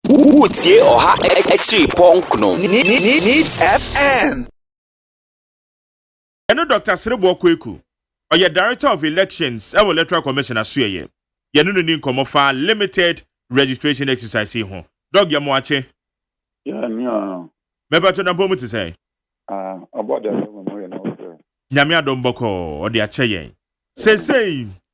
Wotie ɔha akyiri pɔnk no Needs FM. Yɛne Dɔkta Sereboɔ Kweku, ɔyɛ Director of Elections wɔ Electoral Commission Asoɛeɛ, yɛne no ni nkɔmmɔ fa limited registration exercise yi ho. Dɔg, yɛ mo akye. Yɛn ni aa. Mɛpatwo Dampɔn mu te sɛn? Aa, ɔbɔ de ahyɛ mo mu yɛ na ɔfrɛ. Nyame adom bɔkɔɔ, ɔde akyɛ yɛn. Seesei,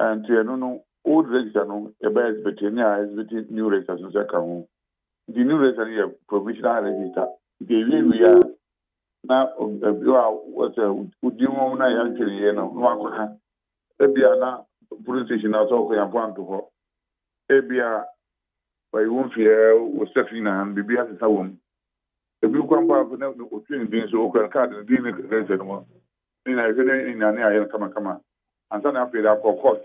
Nti ɛno no old register no yɛbɛyɛ exhibit ne a exhibit new register so sɛ ka ho. Nti new register no yɛ provisional register. Nti ɛwie wie a na ɛbi a wɔsɛ wodin wɔm na yɛantwe ne yie no na wakɔ ka. Ɛbi a na police station na sɛ ɔkɔ yɛmfa nto hɔ. Ɛbi a wɔyi wo mfeɛ wo sex nyinaa no biribi asesa wɔm. Ɛbi kura mpo a na otwe ne din so okura ne card no din ne register no mu. Ne nyinaa yɛhwɛ dɛ hɛn nyinaa ne ayɛ no kamakama ansaana afei dze akɔ court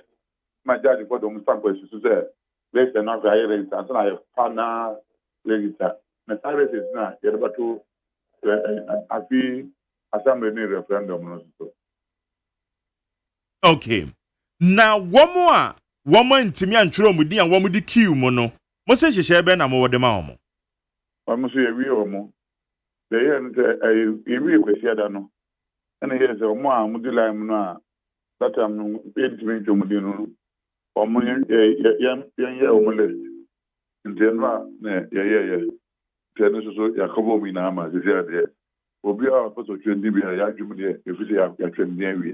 ma judge bɔ dɔm stamp esusu dɛ register no afei ayɛ register ansaana ayɛ final register na saa results no a yɛdze bɛto afe assembly ne referendum no so so. Okay. Na wɔn a wɔn antumi antwerɛ wɔn din a wɔde kiw mu no, mo se nhyehyɛe bɛn na mowɔ de ma wɔn? Wɔn nso yɛawie wɔn. Deɛ yɛyɛ no sɛ ɛyɛ yɛwie Kwasiada no, ɛna ɛyɛɛ sɛ wɔn a wɔdi lime no a Satam no ntumi ntwa wɔn din no, wɔn yɛ yɛ yɛn yɛnyɛ wɔn list. Nti ɛno a na yɛyɛɛyɛ. Nti ɛno nso so yɛakɔba wɔn nyinaa ama sisi ara deɛ obiara a ɔpɛ sɛ ɔtwa ne din biara yɛadwom deɛ ɛfiri sɛ yɛatwa ne din awie.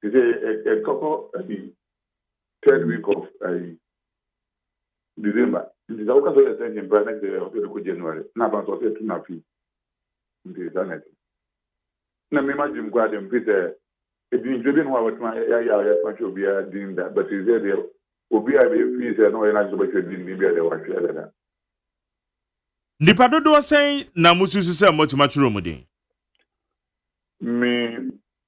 Te sɛ ɛtɔkɔ ɛyi third week of ɛyi December nti sɛ woka sɛ ɔyɛ extension mpo a na kyerɛ ɔsɛ de kɔ January na aba nso ɔsɛ ɛtu na fee nti saa na ɛte na mema gyim koraa de mfi sɛ adwinkyerɛ bi no a wɔtuma yɛayɛ a yɛtuma twɛ obiara din da but sɛ deɛ obi a ɛfii sɛ na ɔyɛ no agye sɛ ɔbɛtwerɛ din din bi a deɛ wɔatwerɛ dada Nnipa dodoɔ sɛn na mosusu sɛ moatumi atwerɛ wɔn din? Me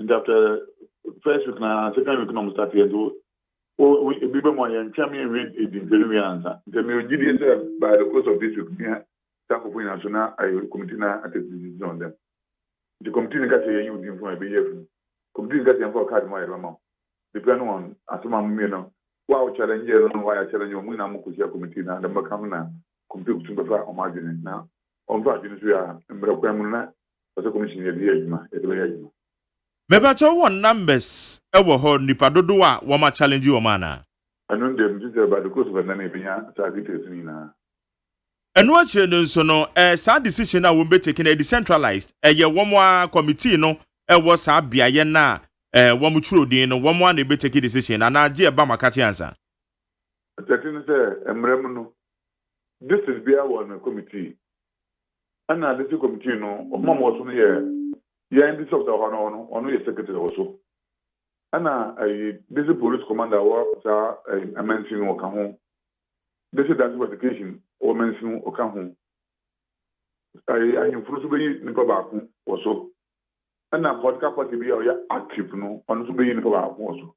Nti after first week na second week na ɔmo start yɛ nti o ebi bɛ mu a yɛn twɛn mi nwi edi ntɛri wi ansa. Nti mi o gyi di sɛ by the close of this week mi ta kofo nyina so na ayɛ committee na a take decision on them. Nti committee ni ka sɛ yɛn yi odin fun a yɛbɛ yi afiri mu. Committee ni ka sɛ yɛn fa o card mu a yɛde bɛ ma o. Depend on asem a mo mienu no wo a o challenge no na wa yɛ challenge no mo nyina mo ko hyia committee na deɛ mo bɛ ka ho na committee ko tum bɛ fa ɔmo adwene na Wɔn nso adwene nso yɛ a mmerɛ kwan mu no na ɔsɛ commission yɛde yɛ adwuma yɛde bɛyɛ adwuma. Mepakyɛw wɔn numbers wɔ hɔ, nipa dodow a wɔn a challenge wɔn anaa? Ɛno no deɛ me fi sɛ by the close of ɛnnɛ no yɛbɛnya saa details no nyinaa. Ɛno akyire no nso no ɛɛ saa decision no a wɔn bɛ take no ɛyɛ decentralized, ɛyɛ wɔn ara committee no ɛwɔ saa beaeɛ no a ɛɛ wɔn twerɛ din no wɔn ara na ɛbɛ take decision anaa gye ɛba mo akakyɛ ansa? Ɔkyerɛkyerɛ no sɛ mmara mu no, district biara wɔ ne committee. Ɛna district committee no, wɔn a wɔwɔ so no yɛ yɛn district officer wɔ hɔ no, ɔno ɔno yɛ secretary wɔ so. Ɛna ɛyi district police commander wɔ saa ɛyi mansin no ɔka ho. District director of education wɔ mansin no ɔka ho. Ɛyi ahemfo nso bɛyi nipa baako wɔ so. Ɛna political party bi a ɔyɛ active no, ɔno nso bɛyi nipa baako wɔ so.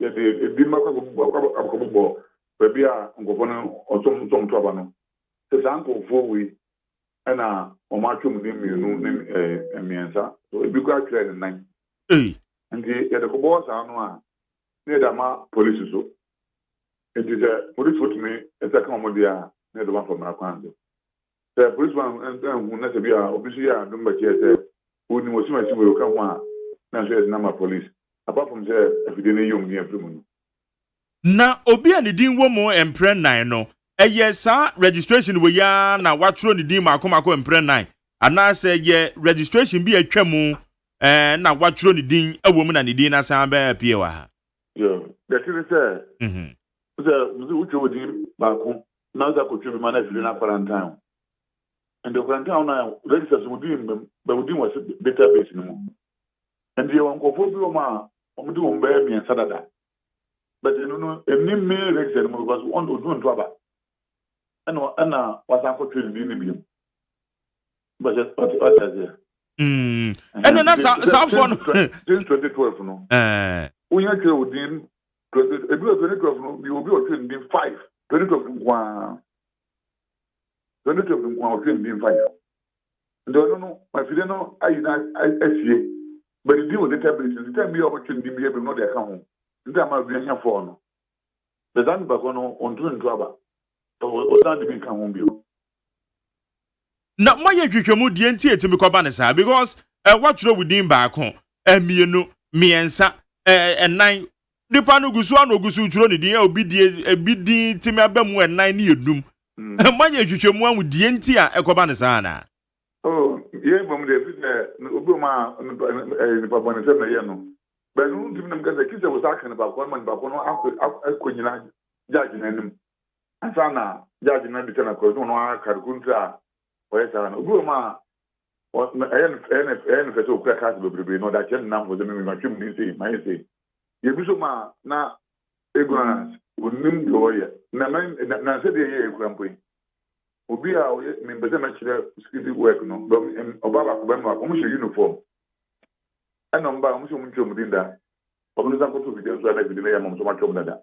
Yɛde ebinom akɔbobɔ baabi a nkurɔfoɔ no ɔsom nsɔm to aba no, sɛ saa nkurɔfoɔ wei na wɔatwerɛ mu din mmienu ne mmiɛnsa, ebi koraa twerɛɛ ne nan. Nti yɛde kɔbɔ hɔ saa no a, na yɛde ama polisi so. Nti sɛ polisifoɔ tumi sɛ ka wɔn deɛ a, na yɛde wɔn afa mmara kwan so. Sɛ polisifo anhu na sɛ bi a obi nso yɛ adom bɛkyerɛ sɛ onim ɔsom akyi wei ɔka ho a, na nso yɛde no ama polis, apart from sɛ afidie no yɛ wɔn din afiri mu no. Na obi a ne din wɔ mu mprɛ nnan no, ɛyɛ saa registration wei ara na wɔatwerɛ ne din mmaako mmaako mprɛ nnan, anaasɛ ɛyɛ registration bi a atwa mu na wɔatwerɛ ne din wɔ mu na ne din no asan abɛ appear wɔ ha. Deɛ ɛte ne sɛ sɛ mese wotwa wo din baako na wode akɔtwa bi ma no afiri no akwarantan wo nti ɔkwarantan wo no a register so wo din mmam bɛ wo din wɔ database no mu nti yɛwɔ nkurɔfoɔ bi wɔm a wɔde wɔn bɛyɛ mmiɛnsa dada but ɛno no ɛni main register no mu because ɔduru nto aba ɛna ɛna wasan akɔtwa ne din no biom ɛno na saafoɔ no since 2012 no wonya eh. twɛ odin ebi wɔ 2012 no mi obi ɔtwe ndin 5 2012 nkoa 2012 nkoa ɔtwe ndin 5 nti ɔno no afide no ayi na asie but di wɔ database nti time bi a ɔbɛtwe ndin bi abim na ɔde aka ho nti ama bi anya fɔɔ no bɛsa nipa kɔ no ɔntumi nto aba ɔsan de bi nka ho bio na moayɛ nhwehwɛmu deɛ nti ɛtumi kɔba no saa because eh, woatwerɛ wo din baako eh, mmienu mmiɛnsa eh, ɛnan nipa no gu so a na ɔgu so twerɛ ne din eh, obi die ebi din tumi aba mu ɛnan ne ɛnum mm. eh, moayɛ nhwehwɛmu ahu deɛ nti a ɛkɔba no saa anaa oh, yɛn bɔ mu deɛ ɛfiri sɛ obi ɔma eh, nipa bɔne sɛ mɛyɛ no bɛno ntumi nam kɛ sɛ kyi sɛ wo saa ka nipa kɔ no ma nipa kɔ no akɔ nyina gyagye no anim Ansa na judge no abisa no a question no ara card kor ntsi a ɔyɛ saa no. Obi wɔ mu a ɔyɛ no fɛ ɔyɛ ɔyɛ no fɛ sɛ okura cars beberebe na ɔdze akyerɛ ne namfo dɛ me matwa mu ntsi sei mayɛ sei. Yɛbi so mu a na ignorance onnhim dza ɔreyɛ na mɛ na na nsɛ dɛ yɛyɛ ekura mpo yi. Obi a ɔyɛ mempɛ sɛ mɛkyerɛ security work no bɛ ɔbaa baako bɛrima baako ɔmo hyɛ uniform ɛna ɔmo bae ɔmo se ɔmo nntwa ɔmo din da. Ɔno ne nsa nkoto fidie no so a na fidie no yɛ ama ɔmo sɛ ɔmo atwa ɔmo dada.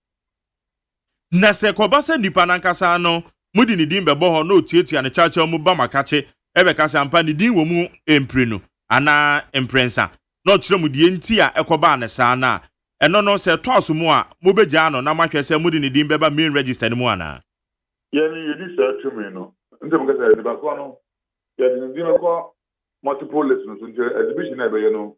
Na sɛ ɛkɔba sɛ nnipa no ankasa no, mode ne din bɛbɔ hɔ na otuatua no kyawkyaw mu ba mo akakye bɛka sɛ, 'Ampa, ne din wɔ mu mprenu anaa mprɛnsa, na ɔkyerɛ mo deɛ enti a ɛkɔbaa no saa no a, ɛno no, sɛ ɛtɔ aso mu a, mobɛgyaa no na moahwɛ sɛ mode ne din bɛba main register no mu anaa. Yɛn, yɛnni saa tumi no. Enti moka sɛ, Nnipa korɔ no, yɛde ne din bɛkɔ multiple list no so, enti exhibition a yɛbɛyɛ no,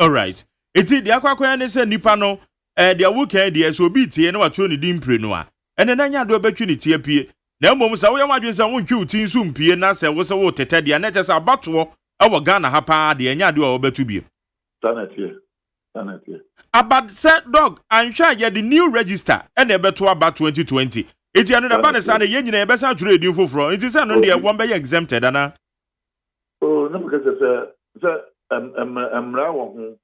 Alright, eti deɛ akɔ akɔyɛ ne sɛ nipa no eh, deɛ wokan deɛ sɛ obi tie na watwerɛ ne din mprenu a, ɛnɛ na ɛnyɛ adeɛ ɔbɛtwe ne ti apie. Na mmom sɛ woyɛ w'adwene sɛ wontwe wo ti nso mpie na sɛ wose woretetɛ deɛ a, na ɛkyerɛ sɛ abatoɔ wɔ Ghana ha paa deɛ ɛnyɛ adeɛ a wɔbɛto bio. Saa na ɛteɛ, saa na ɛteɛ. Aba sɛ Doc, anhwɛ a yɛde new register na ɛbɛto aba twenty twenty. Eti ɛno na ɛba no saa no, yɛn nyinaa yɛbɛsan atwerɛ yɛn din foforɔ. Nti sɛ ɛno no deɛ wɔbɛyɛ exempted anaa? Oh, na meka kyerɛ sɛ sɛ ɛm mmara wɔ ho.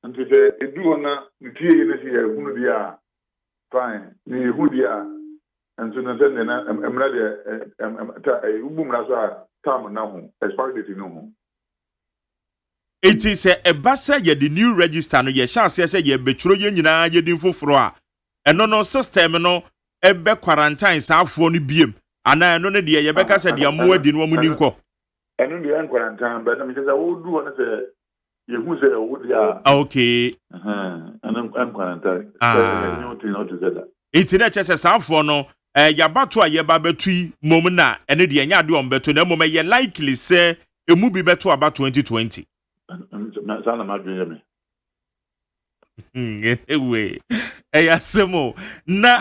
Nti sɛ edu hɔ na ne tie yi ne sɛ yɛ hunu deɛ a fine, ne yɛ hu deɛ a nso no sɛndeɛ na mmara deɛ ɛm ɛm ta ɛyi wobu mmara so a term na ho expiry date no ho. Nti sɛ ɛba sɛ yɛde new register no yɛhyɛ aseɛ sɛ yɛbɛtwerɛ yɛn nyinaa yɛn din foforɔ a ɛno no system no bɛ quarantine saafoɔ no biem anaa ɛno no deɛ yɛbɛka sɛ deɛ mo adi no wɔn ni nkɔ. Ɛno deɛ ɛn quarantine bɛ na mekyɛ sɛ wɔn du hɔ no sɛ yɛhu sɛ ɛwɔ deɛ a. Ah okay. Ɛno ɛn quarantine sɛ ɛnyɛ wo tin ɔte sɛ da. Nti na ɛkyɛ sɛ saafoɔ no ɛɛ yabato a yɛba bɛto yi mom na ɛno deɛ ɛnyɛ adeɛ wɔn bɛto na mmom ɛyɛ likely sɛ emu bi bɛto aba 2020. Saa na m'adwene yɛ me. Hmm, anyway, ɛyɛ asɛm o. Na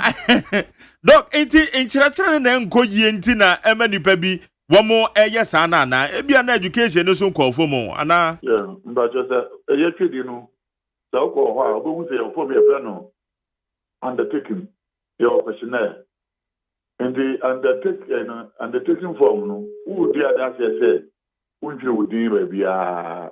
dɔk nti nkyerɛkyerɛ no na ɛnkɔ yie nti na ɛma nipa bi wɔn ɛyɛ saa no anaa ebia na education no so nkɔɔ fam o anaa. Mpakyɛ sɛ ɛyɛ twedi no sɛ wokɔ hɔ a wobɛhu sɛ yɛwɔ fam yɛfrɛ no undertaking yɛwɔ questionnaire nti undertaking eh, no undertaking form no wodi adanseɛ sɛ wontwerɛ wo din baabiara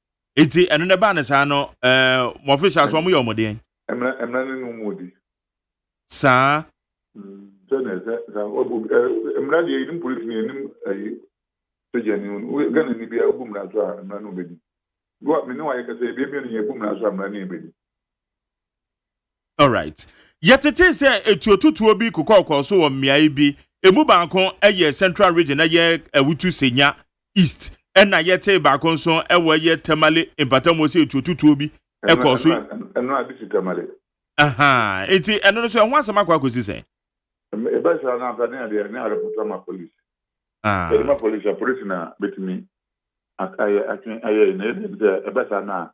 Eti ɛno na ɛbaa ne saa no ɛɛ mo official so wɔn yɛ wɔn deɛn? Mmra mmra ne num mu di. Saa. Mm, sɛ na ɛsɛ sɛ ɔbu ɛɛ mmra deɛ yɛnim polisi ni yɛnim ɛyi sogya ni wɔn gana ni bia ɔbu mmra so a mmra no bɛdi. Wa me ne wa yɛ kasa ebien mmienu yɛ bu mmra so a mmra ne yɛ bɛdi. Alright. Yɛtetee sɛ etuotutuo bi kokɔɔkɔɔ so wɔ mmeae bi. Emu baako yɛ Central Region, ɛyɛ Awutu Senya East, ɛnna yɛtee baako nso wɔ ɛyɛ Tamale mpatamu hɔ sɛ etuotutuo bi kɔɔ so. Ɛno na ade si Tamale. Ahaa, enti ɛno no so ɛho asɛm akɔ akɔsi sɛn? Ɛba saa no a, anka ne adeɛ a, ne arepɔto ama polisi. Yɛde ma polisi a, polisi na bɛtumi ayɛ, atwe ayɛ. Na yɛn deɛ ne sɛ, ɛba saa no a,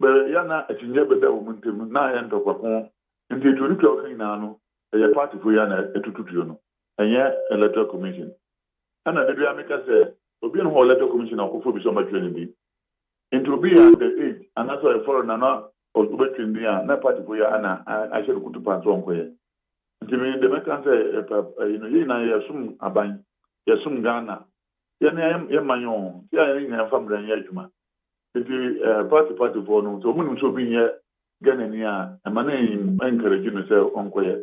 bɛyɛ a na akyinnye bɛda wɔn ntam no, na ayɛ ntɔkwa ko. Enti tuo no tua a wɔka nyinaa no, ɛyɛ partyfo yi ara na ɛtoto tuo no, ɛnyɛ Electoral Commission. Ɛnna da biara meka sɛ, Obi nni hɔ wɔ Electoral Commission a ɔkɔfa obi sɛ ɔmmɛtwerɛ ne din. Enti obi yɛ under age anaasɛ ɔyɛ foreigner na ɔbɛtwerɛ ne din a, na partyfo yi ara na ahyɛ no kutupa sɛ ɔnkɔyɛ. Enti me deɛ mɛka ne sɛ, yɛn nyinaa yɛsom aban, yɛsom Ghana, Yɛn ne yɛn yɛn man oo, nti a yɛn nyinaa mfa mmara nyɛ adwuma. Nti eh, party party foɔ no, sɛ wɔn nim sɛ obi nyɛ Ghanani a, ɛma no encourage no sɛ ɔnkɔyɛ.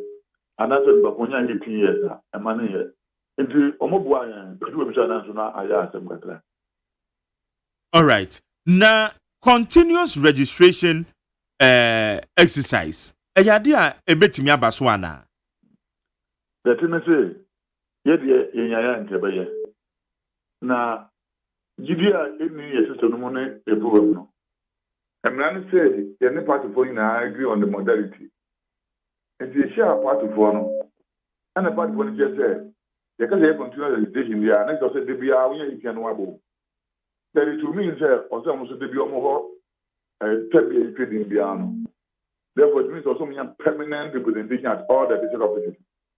Anaasɛ nipa ko nya eighteen years a, ɛma no nyɛ. Nti wɔn boa yɛn, edu baabi so a nanso na ayɛ asɛm kakra. Alright, na continuous registration eh, exercise, ɛyɛ adeɛ a ɛbɛtumi aba so anaa? Deɛ ɛte ne se, Yɛ deɛ yɛnyaeɛ a nka ɛbɛyɛ. Na gyidie a ɛnni yɛn sesɛ no mu ne ɛburuwam no. Mmara ne sɛ yɛne partyfoɔ nyinaa agree on the modality. Nti yɛhyiaa partyfoɔ no ɛna partyfoɔ no kyerɛ sɛ yɛka sɛ yɛ continuous recitation deɛ a na kyerɛ sɛ da biara wonya yɛtia no wabom. That it will mean sɛ ɔsɛ ɔmo nso da biara ɔmo hɔ twa bi a yɛtwa din biara no. Therefore it means ɔsɛ ɔmo nya permanent representation at all the district offices.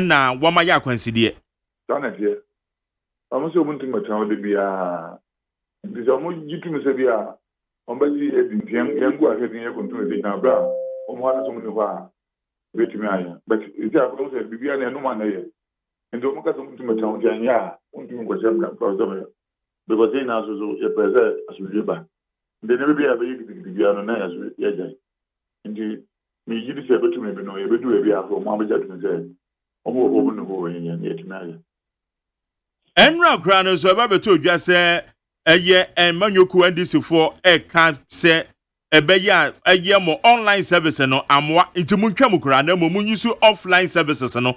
na wɔma yɛ akwansideɛ. Saa na ɛteɛ. Na wɔn sɛ wɔntumi mmɛtena hɔ da biara, enti sɛ wɔgye tom sɛ bi a wɔbɛgye yɛn adi nti yɛn yɛn gu ahwɛden yɛ kontomire de gyina berɛ a wɔn hɔ adesom nni hɔ a yɛbɛtumi ayɛ. But seesei afei wɔn sɛ biribiara na ɛnom a na ɛyɛ, enti wɔka sɛ wɔntumi mmɛtena hɔ nti ɛnyɛ a wɔntumi nkɔhyɛ mmra mfa sɛ wɔyɛ. Because yɛn nyinaa nso so yɛpɛ sɛ asomdwoe ba. Nti nneɛma bi a ɛbɛyɛ gidigidi biara no, na yɛn nso yɛagyae. Nti megye di sɛ ɛbɛtumi bi no, yɛbɛdu baabi a afei wɔabɛgye atom sɛ wɔn nkurɔfoɔ bu no hoo, ɛnyɛ yɛn, yɛatumi ayɛ. Ɛnnora koraa no nso, ɛba bɛtɔɔ dwa sɛ ɛyɛ Mmanyɔkuo NDCfoɔ reka sɛ ɛbɛyɛ a ɛyɛ mo online service no amoa, nti montwa mu koraa na mmom monyi so offline services no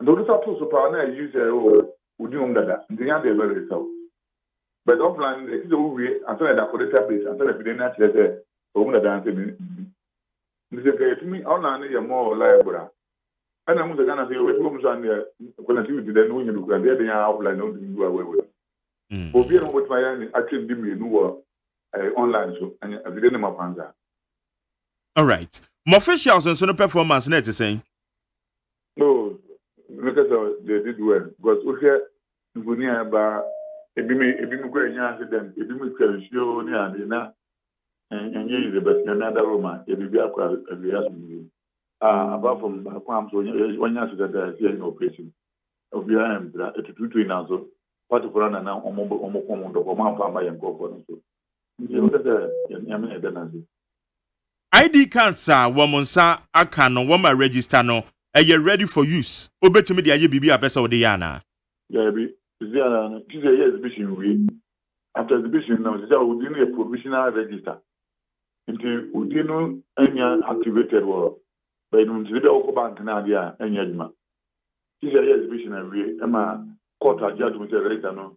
Nti wo kesa to so paa na you sɛ oh wo di hom dada nti nya dɛ bɛwe sɛ wo but ɔfla no dɛ etse sɛ wo wie ansa na ede akɔ database ansa na biden akyerɛ sɛ ɔwɔ mu dada ansa biribi nti sɛ nka yɛtumi ɔlan no yɛ more reliable a ɛna mu sɛ Ghana sɛ yɛwɔ bi wɔ mu so a neɛ connectivity dɛ ne wonya bi kura nti ɛde yɛn ɔfla na wotumi du awɛwɛ mm. obi a na wɔbɛtumi ayɛ ne atwe ndi mmienu wɔ eh, online so ɛnyɛ afide ne ma kwan saa All right. Mo officials nso no performance na ɛte sɛn? No, mekɛ sɛ they did well because wohwɛ mfoni a ɛba a ebi mo ebi mo kura nya accident ebi mo twa nsuo oo ne ade na ɛnyɛ yize but nyame adaworo ma ebibi akɔ awie asomdwie ah apart from baako am so wɔnyɛ accident a ɛsɛ yɛnyɛ operation obiara ɛmpira ɛtututu yi nanso patefo no nana wɔn wɔn kɔn wɔn dɔkɔ wɔn amfa ama yɛn nkurɔfoɔ no so Nti wopɛ sɛ yɛme yɛda no ase? ID cards a wɔn nsa aka no wɔma register no ɛyɛ ready for use wobɛtumi de ayɛ biribi a wopɛ sɛ wode yɛ anaa? Daabi, sisi ara no gye sɛ yɛyɛ exhibition wie, after exhibition no sisi a wo din no yɛ provisional register nti wo din no nnya activated wɔ baabi nti sɛ bia wokɔ bank no adeɛ a ɛnyɛ adwuma gye sɛ yɛyɛ exhibition awie ma court agye atom sɛ register no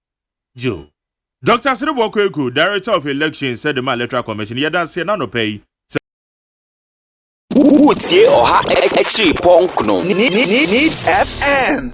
Joe. Dɔkta Sereboɔ Kweku, Director of Elections de maa Electoral Commission, yɛ adanseɛ no anɔpa yi sɛ. Woretie Ɔha Akyiri Pɔnkɔ no, Needs FM.